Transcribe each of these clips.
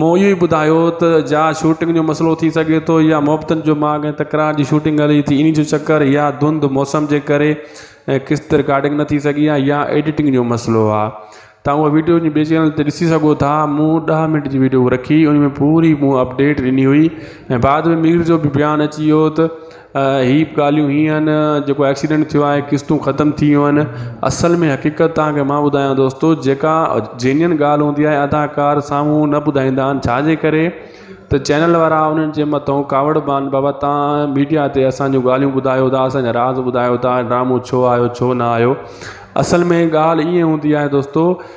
مون اهو ئي ٻڌايو ته جا شوٽنگ جو مسئلو ٿي سگهي ٿو يا محبتن جو ماڳ ۽ تڪرار جي شوٽنگ هلي ٿي انهي جو چڪر يا ڌنڌ موسم جي ڪري ۽ قسط رڪارڊنگ نه ٿي سگهي آهي يا ايڊيٽنگ جو مسئلو آهي تان اهو ويڊيو جي ٻي چينل تي ڏسي سگهو ٿا مون ڏهه منٽ جي ويڊيو رکي انهي ۾ پوري مون اپڊيٽ ڏني هئي ۽ بعد ۾ مير جو بيان اچي ويو ته ھي بھ ڳالھيون ھيئن آھن جيڪو ايڪسيڊنٽ ٿيو آھي قسطون ختم ٿي ويون آھن اصل ۾ حقيقت تانکي مان ٻڌايان دوستو جيڪا جينين ڳالھھ ھوندي آھي اداڪار سامھون نھ ٻڌائيندا آھن ڇاجي ڪري تھ چينل وارا انھن جي مٿو ڪاوڙ بھ آھن بابا تان ميڊيا تي اسانجو ڳالھيون ٻڌايو تھ اسانجا راز ٻڌايو تھ ڊرامو ڇو آيو ڇو نھ آيو اصل ۾ ڳالھھ ايئن ھوندي آھي دوستو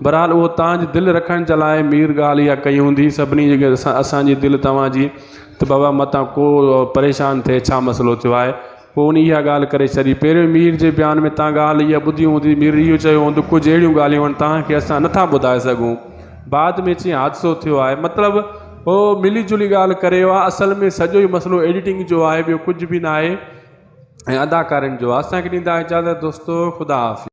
بھرحال اھو توھان جي دل رکڻ جي لاء مير ڳالھ اھا ڪئي ھوندي سڀني جي گڏ سان اسان جي دل توھان جي تھ بابا متان ڪو پريشان ٿئي ڇا مسئلو ٿيو آھي پوء ان اھا ڳالھ ڪري ڇڏي پھريون مير جي بيان ۾ توھان ڳالھ اھا ٻڌي ھوندي مير اھو چيو ھوندو ڪجھ اھڙيون ڳالھيون آھن توھان کي اسان نٿا ٻڌائي سگھون بعد ۾ چيائين حادثو ٿيو آھي مطلب اھو ملي جلي ڳالھ ڪري ويو آھي اصل ۾ سڄو اھو مسئلو ايڊيٽنگ جو آھي ٻيو ڪجھ بھ ناھي ۽ اداڪارين جو آھي اسان کي ڏيندا اجازت دوستو خدا حافظ